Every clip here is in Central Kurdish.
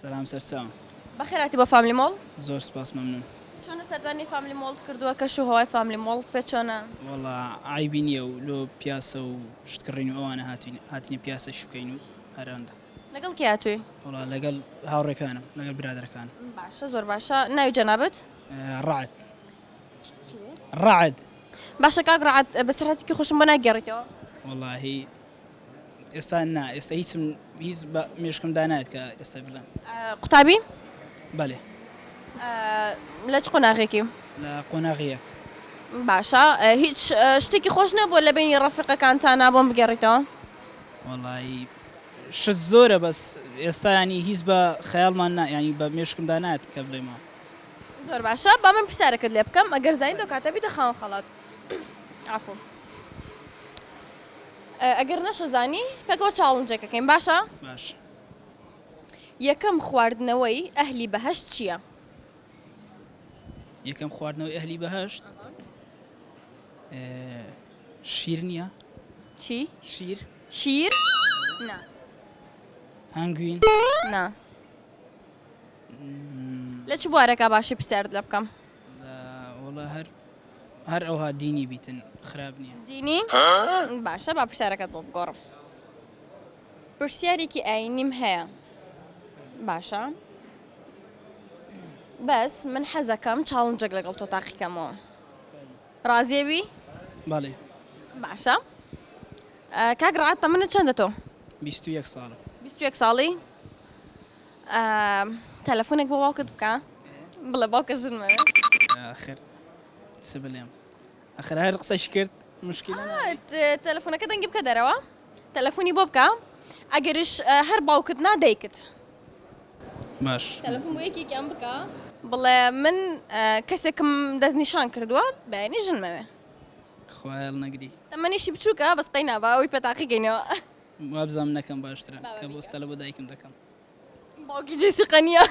سەلام سەرچاوم. بەخێر هاتی بۆ فاملی مۆڵ. زۆر سوپاس مەمنون. چۆنە سەردانی فاملی مۆڵت کردووە کەش و هەوای فاملی مۆڵت پێ چۆنە؟ وەڵا عەیبی نییە و لۆ پیاسە و شت کڕین و ئەوانە هاتووین هاتینە پیاسە ئیش بکەین و هەر ئەوەندە. لەگەڵ کێ هاتووی؟ وەڵا لەگەڵ هاوڕێکانم لەگەڵ برادەرەکانم. باشە زۆر باشە ناوی جەنابت؟ ڕەعد. ڕەعد. باشە کاک ڕەعد بەسەرهاتێکی خۆشم بۆ ناگێڕیتەوە؟ وەڵاهی ئێستا نا ئێستا هیچم هیچ بە مێشکم دانایەت کە ئێستا بڵێم قوتابی بەێ لە چ قۆناغێکی لە قۆناغیەک باشە هیچ شتێکی خۆش نەبووە لە بینی ڕەفقەکان تا نابۆم بگەڕیتەوە وڵی شت زۆرە بەس ئێستا ینی هیچ بە خەیاڵمان نا ینی بە مێشکم دانات کە بڵێمەوە زۆر باشە با من پرسیارەکەت لێ بکەم ئەگەر زانین دەکاتە بیتە خاوەن خەڵات عفو ئەگەر نەشزانی پێکەوە چاڵنجێک ئەکەین باشە؟ باش. یەکەم خواردنەوەی ئەهلی بەهەشت چییە؟ یەکەم خواردنەوەی ئەهلی بەهەشت شیر نییە؟ چی؟ شیر شیر؟ نا. هەنگوین؟ نا. لە چ بوارەکە باشی پرسیارت لێ بکەم؟ وەڵا هەر هەر ئەوها دینی بیتن خراپ نیە. دینی؟ باشە با پرسیارەکەت بۆ بگۆڕم پرسیارێکی ئاینیم هەیە باشە بەس من حەزەکەم چاڵنجەک لەگەڵ تۆ تاقیکەمەوە ڕازێوی؟ بەڵێ باشە کاک ڕات تەمنت چەندە تۆ؟ بیست و یەک ساڵم. بیست و یەک ساڵی؟ تەلەفونێک بۆ باوکت بکە بڵێ باوکە ژنمە بێ. ئاخر چ بلێم ئاخر هەر قسەش کرد مشکلە تەلەفونەکە دەنگی بکە دەرەوە تەلەفونی بۆ بکە ئەگەرش هەر باوکت نا دایکت باش تەلەفون بۆ یەکێکیان بکە بڵێ من کەسێکم دەستنیشان کردووە بەینی ژنمەوێ خوایە هەڵنەگری تەمەنیشی بچووکە بەس قەینا با ئەوی پێ تاقیگەینەوە. وابزانم نەکەم باشترە کە بۆستە لە بۆ دایکم دەکەم. باوکی جێسیقە نییە.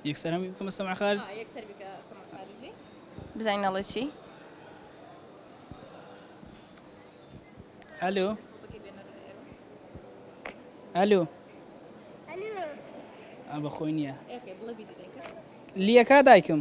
یەکسەر هەمووی بکەمە سەمع خارج بزانین ئەڵێ چی ئەلو ئەلو بە خۆی نییە لیەکە دایکم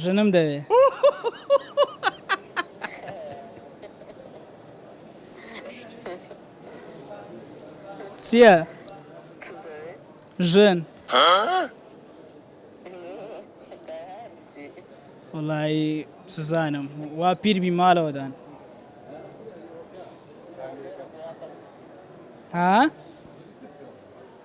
ژنم دەوێ. چیە؟ ژن. وەڵایی سوزانم وا پیر بی ماڵەوەدان. ها؟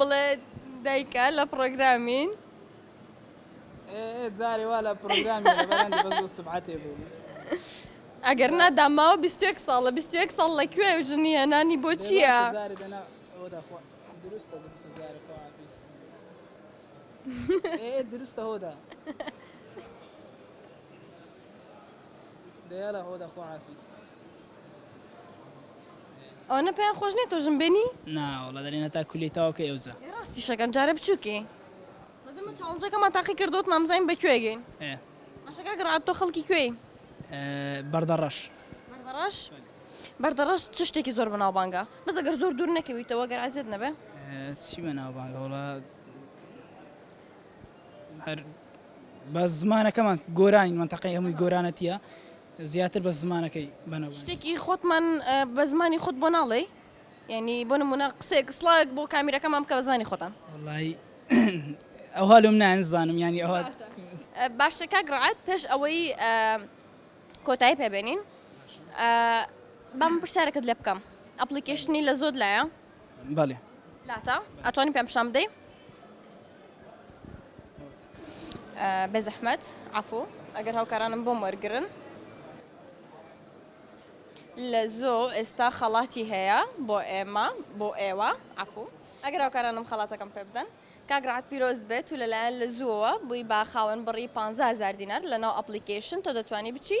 بڵێ دایکە لە پڕۆگرامین. جارێ وا لە پڕۆگرام سبعاتێ بوو. ئەگەر نادا ماوە 21 ساڵە 21 ساڵ لە کوێ و ژنی هێنانی بۆ چییە؟ دروستە هۆدا. ئەوانە پێیان خۆش نیە تۆ ژن بێنی؟ نا وەڵا دەرێن هەتا کولیەی تەواو کەی ئەوزا. ئێ ڕاستیش ئەکەن جارێ بچوکی. بەس ئێمە چاڵنجەکەمان تاقی کردۆتمان بزانین بە کوێ گەین. ئێ. باشە کاک ڕەعد تۆ خەڵکی کوێی؟ بەردەڕەش. بەردەڕەش؟ بەردەڕەش چ شتێکی زۆر بەناوبانگە؟ بەس ئەگەر زۆر دوور نەکەویتەوە گەر ئەزیەت نەبێ. چی بەناوبانگە وەڵا. هەر بە زمانەکەمان گۆرانی منتەقەی هەمووی گۆرانەتیە زیاتر بە زمانەکەی بەنەوە شتێکی خۆتمان بە زمانی خۆت بۆ ناڵێ یعنی بۆ نمونە قسێک سڵاوێک بۆ کامیرەکەمان بکە بە زمانی خۆتان وڵی ئەوها لەم نانزانم ینی ئەوها باشە کاک ڕعات پێش ئەوەی کۆتایی پێبێنین بەم پرسیارەکەت لێ بکەم ئەپلیکیشنی لە زۆر لایە بەلی. لاتە ئەتوانی پێم پیشان بدەی. بێزەحمەت عەفوو ئەگەر هاوکارانم بۆم وەرگرن. لە زۆ ئێستا خەڵاتی هەیە بۆ ئێمە بۆ ئێوە عەفوو ئەگەر هاوکارانم خەڵاتەکەم پێ بدەن. کاک رعد پیرۆزت بێت تو لەلایەن لە زووەوە بووی بە خاوەن بڕی پانزە هەزار دینار لەناو ئەپڵیکەیشن تۆ دەتوانی بچی